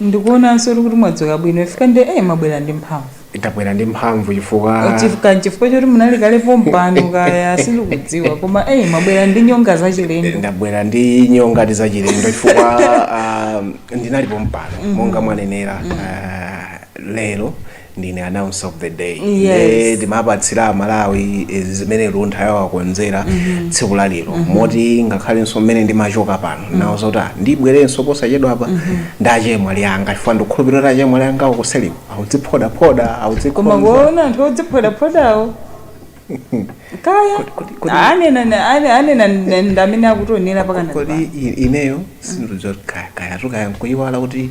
Ndikuonanso kuti mwadzuka bwino chifukwa nde eh, mwabwera ndi mphamvu. Ndabwera ndi mphamvu chifukwa. Chifukwa nchifukwa choti munali kale pompano kaya sindikudziwa koma eh, mwabwera ndi nyonga zachilendo. Ndabwera ndi nyonga zachilendo chifukwa uh, ndinali pompano mm -hmm. monga mwanenera uh, lero ndine announcer of the day nde timapatsira amalawi eh, zimene luntha yawakonzera tsiku la lero moti ngakhalenso mmene ndimachoka pano nawauza kuti "Ah, ndibwerenso posachedwa apa ndi achemwali anga chifukwa ndikukhulupirira kuti achemwali anga akuseliko akudziphodaphoda koma akudzikonza kuona anthu odziphodaphodawo kaya kodi- kodi- anena na- ane- anena na- ndi amene akutionera pakanema kodi i- ineyo sindizokayatukaya nkuyiwala kuti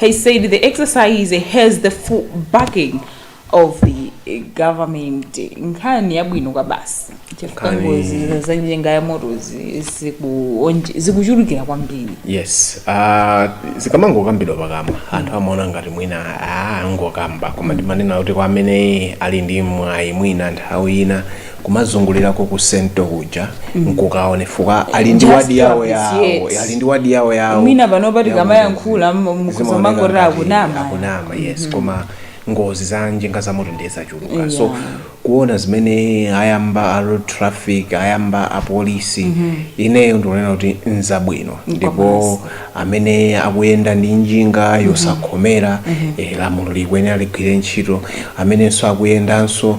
He said the exercise has the full backing of the eh, government. Nkhani yabwino kwabasi chifukwa Nkhani- ngozi za njinga za motozi zikuonje- zikuchulukira kwambiri. yes uh, zikamangokambidwa pakamwa anthu amaona ngati mwina ah, angokamba koma ndimanena kuti kwa amene ali ndi mwayi mwina nthawi ina kumazungulirako ku Central kuja nkukaone chifukwa ali ndi Just wadi yawo yawo appreciate. ali ndi wadi yawo yawo Mwina pano pati yawo kamayankhula, ngozi. m- m- Zimaoneka kumangoti ngati akunama. akunama yes koma ngozi za njinga za moto ndiye zachuluka so Yeah. kuona zimene ayamba a road traffic ayamba apolisi ineyo ndikunena kuti nzabwino ndipo amene akuyenda ndi njinga yosakhomera eh, lamulo likuyenera ligwire ntchito amenenso akuyendanso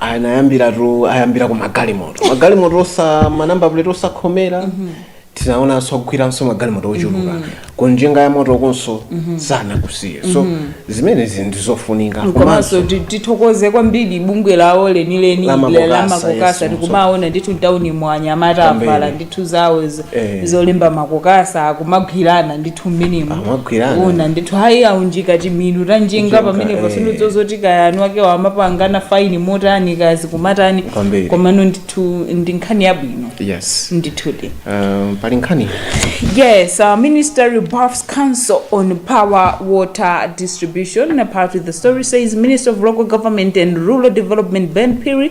anayambiratu ayambira ku magalimoto magalimoto osa manamba plate osakhomera tinaonanso agwiranso magalimoto ochuluka ku njinga ya moto ukonso sanakusiye so zimenezi ndi zofunika komanso ti- tithokoze kwambiri bungwe lawo lenileni La Makokasa, la yes, Makokasa tikumaona ndithu mtaunimu anyamata Kwambiri. avala ndi zinthu zawo izo Eh. zolemba Makokasa kumagwirana ndithu mmenemo Amagwirana. umaona ndithu ayi aunjika timilu ta njinga Njinga, pamenepo eh. sindidziwa zoti kaya eni akewo amapangana faini motani kaya zikumatha bwanji Kwambiri. komano ndithu ndi nkhani yabwino yes ndithudi um, pali nkhani Yes, our minister rebuffs councils on poor water distribution. Part of the story says Minister of Local Government and Rural Development Ben Phiri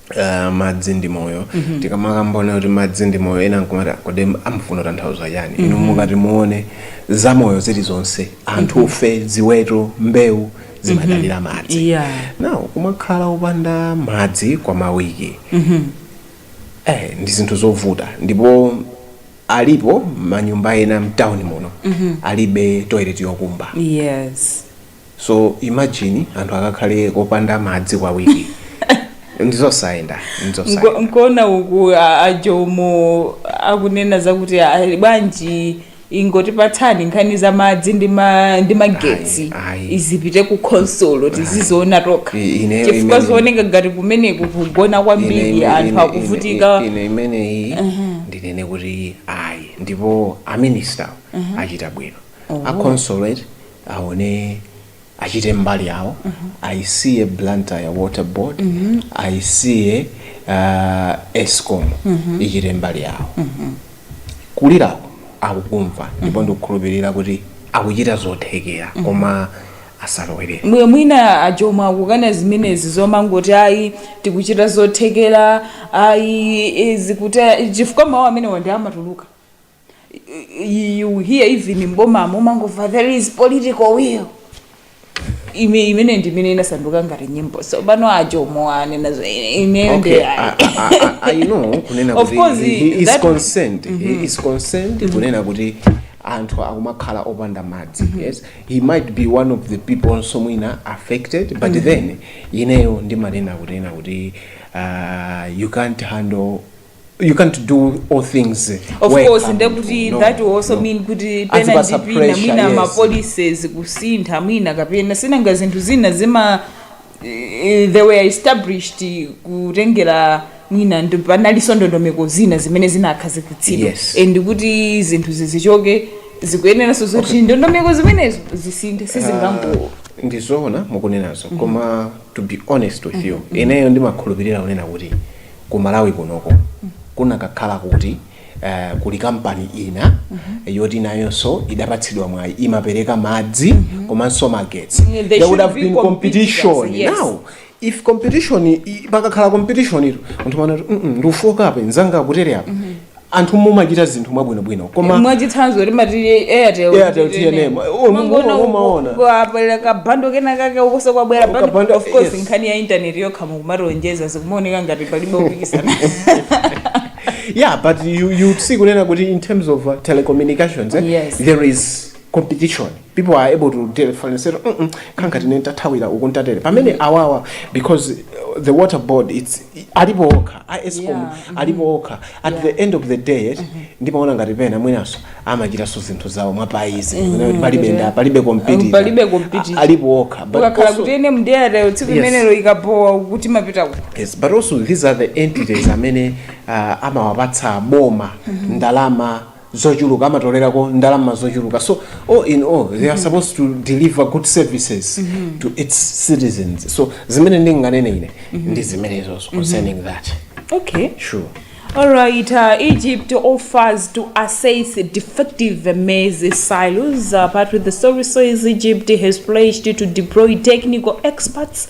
Uh, madzi ndi moyo mm -hmm. tikamakamba kunena kuti madzi ndi moyo ena nkumati kodi amafuna atanthauze chani mm -hmm. inu mukati muone za moyo zilizonse anthu mm -hmm. ife ziweto mbewu zimadalira mm -hmm. madzi yeah. now kumakhala opanda madzi kwa mawiki mm -hmm. eh, ndi zinthu zovuta ndipo alipo manyumba ena mtawuni muno mm -hmm. alibe toilet yokumba yes so imagine anthu akakhale kopanda madzi kwa wiki ndizosayenda ndizosayenda nkuona uku a- ajomo akunena zakuti ali bwanji ingoti patsani nkhani za madzi ndi ma- ndi magetsi Ayi, ayi. izipite ku khonsolo tiziziona tokha I- ine- chifukwa ine- zioneka ngati kumeneku kugona Ine- kwambiri ine- anthu ine- akuvutika ine- ine imeneyi ndinene kuti ayi ndipo aminister achita bwino akhonsolo aone achite mbali yawo ayisiye blantyre water board ayisiye uh, escom ichite mbali yawo kulirako akukumva ndipo ndikukhulupirira kuti akuchita zothekera koma asalowelere Mwe- mwina ajoma akukana zimenezi zomangoti ayi tikuchita zothekera ayi izi kuti chifukwa mawu amenewa ndi amatuluka you, you hear even m'bomamu umangomva there is political will ime imene ndi imene inasanduka ngati nyimbo so pano ajomo anenazo ineyo ndi Okay, I, I, I, I know kunena Of kuti course, he, he is that- concerned he is concerned kunena kuti anthu akumakhala opanda madzi yes he might be one of the people also mwina affected but then ineyo ndimanena kunena kuti uh, you can't handle you can't do all things of wekha course nde munthu. kuti No, that will also no. mean kuti pena Azipatsa ndi pena pressure, mwina yes. ma policies kusintha mwina kapena sinanga zinthu zina zima eh, they were established kutengera mwina panalinso ndondomeko zina zimene zinakhazikitsidwa Yes. and kuti zinthu zichoke zikuyeneranso zoti ndondomeko zimenezo zisinthe sizingango ndizoona mukunenazo koma to be honest with you ineyo ndimakhulupirira kunena kuti ku Malawi kunoko kunakakhala kuti eh, kuli kampani ina yoti nayonso idapatsidwa mwayi imapereka madzi komanso magetsi Mm, there there would should have be been competition, competition yes. now if competition i- pakakhala competition mtundu wa anthu amati "Mm, mm, ndikafooka apa nzanga akutere apa anthu mumachita zinthu mwabwinobwino koma mwachitsanzo timati airtel Airtel TNM. Oh, Mumaona umo- umaona. uko kwabwera kabando kena kake ukoso kwabwera bando Kabando, of course yes. nkhani ya intaneti yokha mukumationjeza zikumaoneka ngati palibe kupikisana yeah but you, you see kunena kuti in terms of uh, telecommunications eh, Yes. there is competition people are able to differentiate mm nkhala ngati ine ndathawira uku ndatere pamene awawa because uh, the water board it's alipo okha a escom Yeah, mhm. alipo okha at Yeah. the end of the day yet ndimaona ngati pena mwinaso amachitanso zinthu zawo mwaphwayi kuti palibe nda palibe competitor. Palibe competitor. A- alipo okha But ukakhala also- kuti ene mdera tsiku Yes. limenelo ikapowa kuti mapita ku yes but also these are the entities amene uh, amawapatsa boma ndalama zochuluka amatolelako ndalama zochuluka so all in all they are supposed to deliver good services to its citizens so zimene ndinganene ine ndi zimenezozo concerning that okay sure Alright, uh, Egypt offers to assist defective maize silos, uh, but the story says Egypt has pledged to deploy technical experts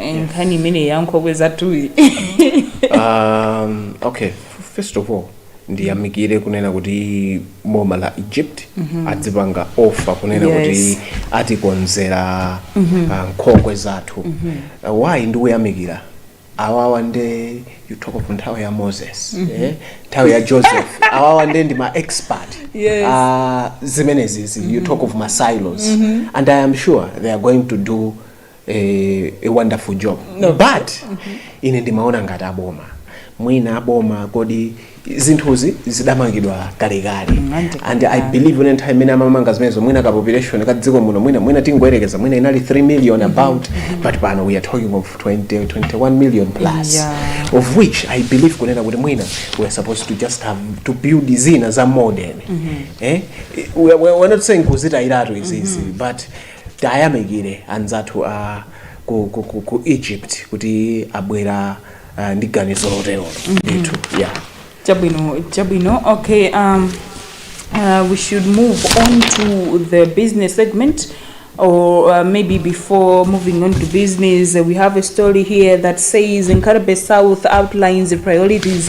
Eh, nkhani imene ya nkhokwe zathuyi um, okay first of all ndiyamikire kunena kuti boma la egypt adzipanga offer kunena Yes. kuti atikonzera ah, nkhokwe zathu Ah, why ndikuyamikira awawa nde you talk of nthawi ya moses eh? nthawi ya joseph awawa nde ndi ma expert Yes. Ah, zimenezizi you talk of ma silos and i am sure they are going to do eh, a wonderful job no. but mm -hmm. ine ndimaona ngati aboma mwina aboma kodi zinthuzi zidamangidwa kalekale mm, and i believe ine nthawi imene amamanga zimenezo mwina ka population ka dziko muno mwina mwina tingoyerekeza mwina inali 3 million mm-hmm. about mm-hmm but pano we are talking of 20 21 million plus yeah. of which i believe kunena kuti mwina we are supposed to just have to build zina za modern mm -hmm. eh? we, we, we're not saying kuzitayiratu izizi mm -hmm. but Tiayamikire anzathu a ku ku ku ku Egypt kuti abwera uh, ndi ganizo loterolo ndithu yeah. Chabwino, chabwino. Okay, um, uh, we should move on to the business segment. Or uh, maybe before moving on to business, uh, we have a story here that says Nkhata Bay South outlines the priorities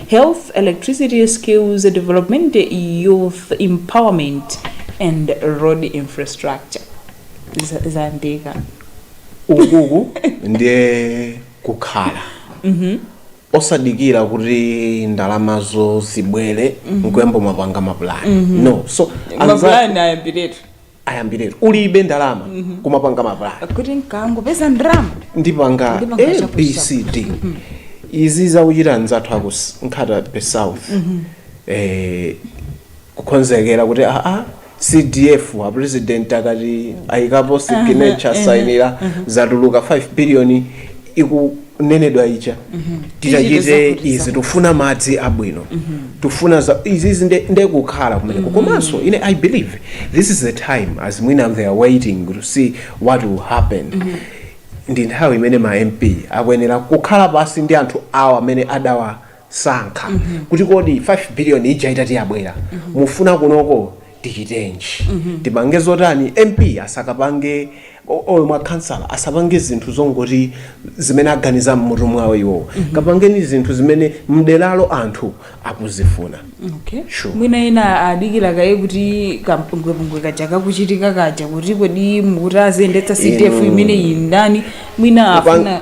Health, Electricity, Skills Development, Youth Empowerment and Road Infrastructure. Za- Zayambika. ukuku ndiye kukhala osadikira kuti ndalamazo zibwere nkuyamba kumapanga mapulani no so anza- Mapulani ayambiretu. ayambiretu ulibe ndalama kumapanga mapulani kuti nkangopeza ndalama ndipanga Ndipanga chakuti abcd izi zawachita nzathu aku s- Nkhata Bay South eh, kukonzekera kuti ah CDF a president akati ayikapo signature asainira zatuluka 5 billion iku kunenedwa ija titachite izi tufuna madzi abwino tufuna za izizi nde, nde kukhala kumeneko komanso ine i believe this is the time as mwina they are waiting to see what will happen ndi nthawi imene ma mp akuyenera kukhala pansi ndi anthu awo amene adawa sankha mm -hmm. kuti kodi 5 billion ija itati yabwera mm -hmm. mufuna kunoko tichitenji mm -hmm. tipange zotani mp asakapange olo mwina kansala asapange zinthu zongoti zimene aganiza mmutu mwawo iwowo mm -hmm. kapangeni zinthu zimene mderalo anthu akuzifuna okay. sure. mwina ena adikira kaye kuti kampungwepungwe kaja kakuchitika kaja kuti kodi muti aziyendetsa cdf imeneyi ndani mwina afuna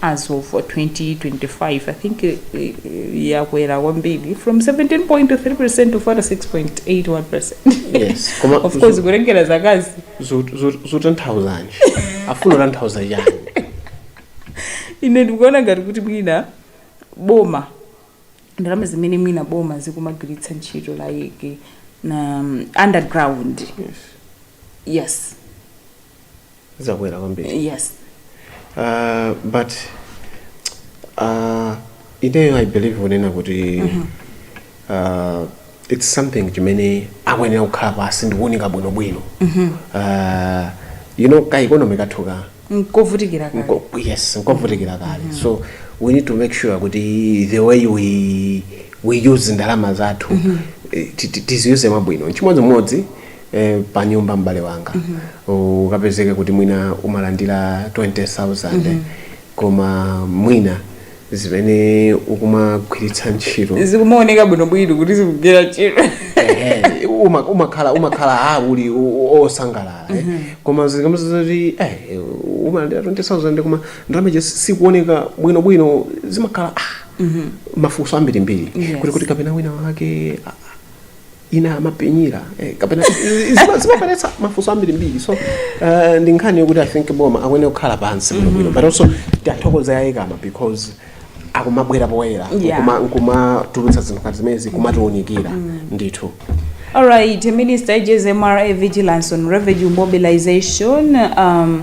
as of 2025 i think eh, eh, yakwera kwambiri from 17.3 percent to 46.81 percent yes koma of course kutengera zakazi zot- zot- zotanthauzanji afuna kutanthauza chani ine ndikuona ngati kuti mwina boma ndalama zimene mwina boma likumagwiritsa ntchito like na um, on the ground yes zakwera kwambiri yes uh, but uh, ineyo i believe kunena kuti uh, it's something chimene akuyenera kukhala pansi ndikuunika bwinobwino uh, you know ka economy kathuka nkovutikira kale Nko- yes nkovutikira kale so we need to make sure kuti the way we, we use ndalama zathu eh, ti- ti- tiziuse mwabwino nchimodzimodzi e, pa nyumba m'bale wanga ukapezeka kuti mwina umalandira 20000 koma mwina zimene ukumagwiritsa ntchito zikumaoneka bwinobwino kuti zikugwira ntchito Ehe, uma- umakhala umakhala a uli o- o- osangalala eh. koma zikamadza kuti eh, umalandira 20000 koma ndalama ija si- sikuoneka bwinobwino zimakhala ah, mafunso ambirimbiri Yes. kuti kuti kapena wina wake ah, ina amabenyera eh, kapena zima- zimabweretsa mafunso ambirimbiri so uh, ndi nkhani yokuti i think boma akuyenera kukhala pansi bwinobwino but also tiathokoze a ECAMA because akumabwera poyera Yeah. nkuma- nkumatulutsa zinthu ngati zimenezi kumatiunikira ndithu All right, Minister, urges MRA Vigilance on Revenue Mobilization. Um,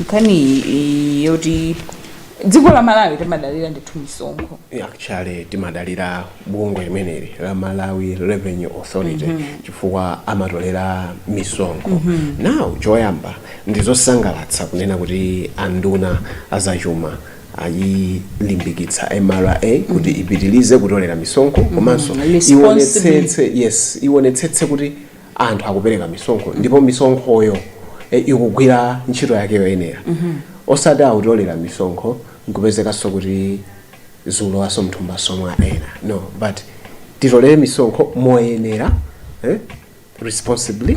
nkhani yoti dziko la malawi timadalira ndithu misonkho actually timadalira bungwe limeneli la malawi revenue authority chifukwa amatolera misonkho now choyamba ndizosangalatsa kunena kuti anduna azachuma ayilimbikitsa mra kuti ipitilize kutolera misonkho komanso Responsible. iwonetsetse yes iwonetsetse kuti anthu akupereka misonkho ndipo misonkhoyo e, ikugwira ntchito yake yoyenera osati akutolera misonkho nkupezekanso kuti zikulowanso mthumbaso mwa ena no but titolere misonkho moyenera eh, responsibly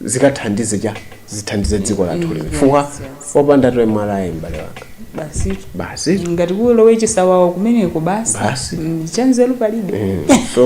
zikathandize cha zithandize dziko lathu lino chifukwa yes, yes. opanda tax MRA mbale wanga basi basi ngati kulowe chisawawa kumeneko basi Basi. Mm, chanzeru palibe Eh, so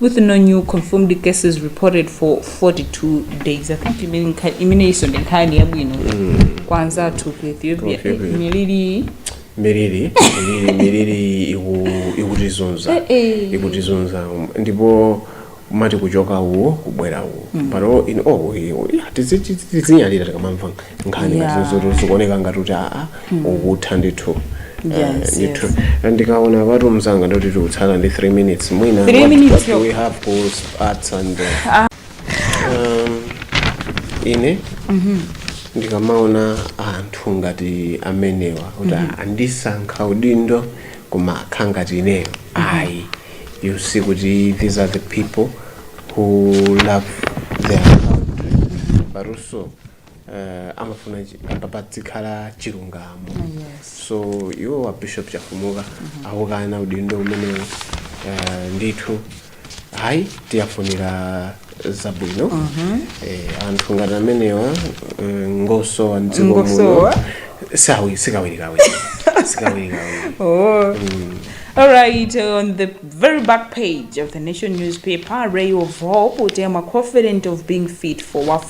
with no new confirmed cases reported for 42 days i think imene nkha- imeneyinso ndi nkhani yabwino kwa anzathu ku ethiopia Ku Ethiopia. Eh, miliri miliri miliri miliri iku- ikutizunza Eh, eh. ikutizunza um, ndipo umati kuchoka uwo kubwera uwo pano in all we- we- tizi- tizi- tizinyalira tikamamva nkhani Yeah. ngati zikuoneka ngati kuti aa ukutha ndithu Eh, Yes, ndithu yes. Eh, ndikaona patu mzanga ndoti tikutsala ndi 3 minutes mwina Three what- minutes what do yokha. we have goals arts and uh, um, ine ndikamaona anthu ngati amenewa kuti andisankha udindo koma akhala ngati ineyo ayi you see kuti these are the people who love their country but also uh, amafuna chi- apa padzikhala chilungamo yes so iwo wa bishop chafumuka akukana udindo umenewu ndithu ayi tiwafunira zabwino eh, anthu ngati amenewa eh, ngosowa mdziko muno Ngosowa? sawi sikawirikawiri sikawirikawiri Oh. All right, on the very back page of the Nation newspaper, Ray of Hope, Utema confident of being fit for WAF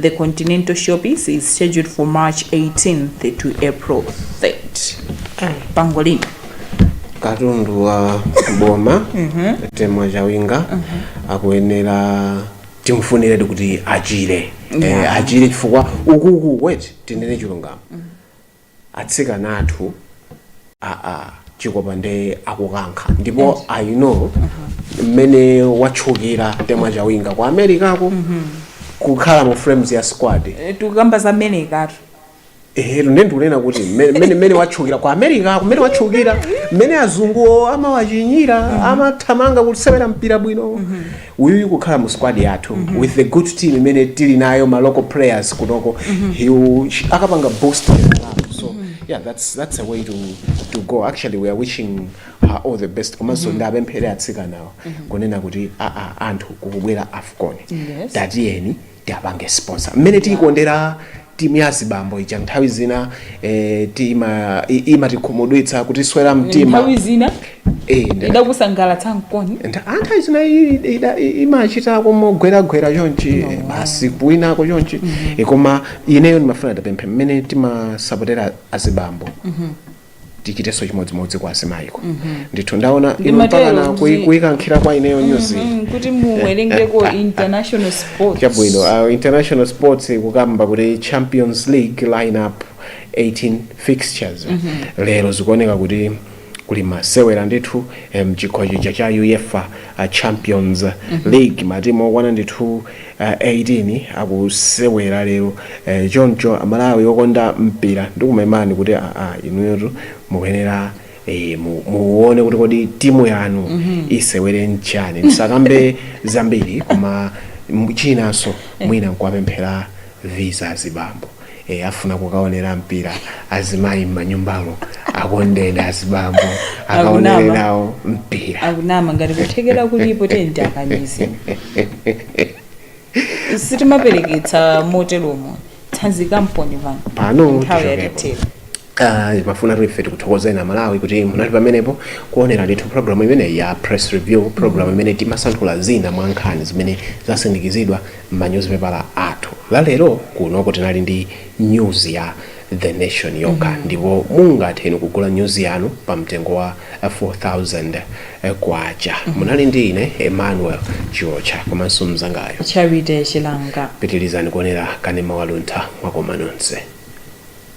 The Continental Showpiece is scheduled for March 18th to April 3rd. Pangolin. katundu wa boma temwa chawinga akuyenera timfunire kuti achire Yeah. Eh, achire chifukwa ukuku wait tinene chilungamo atsikana athuwa chikopa nde akukankha ndipo i know mmene watchukira temwa chawinga ku americako kukhala mu frames ya squad Eh, tikukamba za Americatu ehero nde ndikunena kuti mmene- mmene mmene watchukira ku americako mmene watchukira mmene azunguwo amawachinyira amathamanga kusewera mpira bwino uyuyu kukhala mu squad yathu mm -hmm. with the good team imene tili nayo ma local players kunoko mm -hmm. akapanga boost so mm -hmm. yeah that's that's a way to to go actually we are wishing her all the best komanso mm -hmm. ndiwapemphere atsikanawa mm -hmm. kunena kuti aa anthu kukubwera afcon yes. tatiyeni tiipange sponsor mmene tiikondera timu ya azibambo ija nthawi zina eh, tima- i- imatikhumudwitsa kutiswera mtima nthawi zina Eh, nda- idakusangalatsa mkoni nda- ah, nthawi zina i- ida- i- imachitako mogweragwera chonchi eh, basi kuwinako chonchi Eh, koma ineyo ndimafuna ndipemphe mmene timasapotera azibambo tichitenso chimodzimodzi kwa azimayiko ndithu Ndaona inu Ndimatero mpakana kuti- kuyi- kuyikankhira kwa ineyo nyuzi Mm, kuti muwerengeko international sports chabwino uh, international sports ikukamba kuti champions league lineup 18 fixtures lero zikuoneka kuti kuli masewera ndithu eh, mchikho chija cha uefa uh, champions league matimu okwana ndithu 18 akusewela lelo choncho amalawi okonda mpila ndikumemani kuti aa inuyotu mukuyenela ee muwone kuti kodi timu yanu isewela ndi ndani ndisakambe zambili koma chinaso mwina nkuwapemphelako visa azibambo ee afuna kukaonera mpira azimayi m'manyumbamo akondeni azibambo akaonere nawo mpira akunama ngati kuthekera kulipo tenti akanizi sitimapereketsa moteromo tsanzikani poti pano pano nthawi tichokepo. yatithera Aaa timafunatu ife tikuthokozeni a Malawi kuti munali pamenepo kuonera ndithu programu imeneyi ya Press Review, programu imene timasanthula zina mwa nkhani zimene zasindikizidwa m'manyuzipepala athu. La lero kunoko tinali ndi nyuzi ya The Nation yokha ndipo mungathe inu kugula nyuzi yanu pa mtengo wa 4,000 kwacha. Munali ndi ine Emmanuel Chiotcha komanso mnzangayu. Charity Chilanga. Pitirizani kuonera Kanema wa Luntha mwakoma nonse.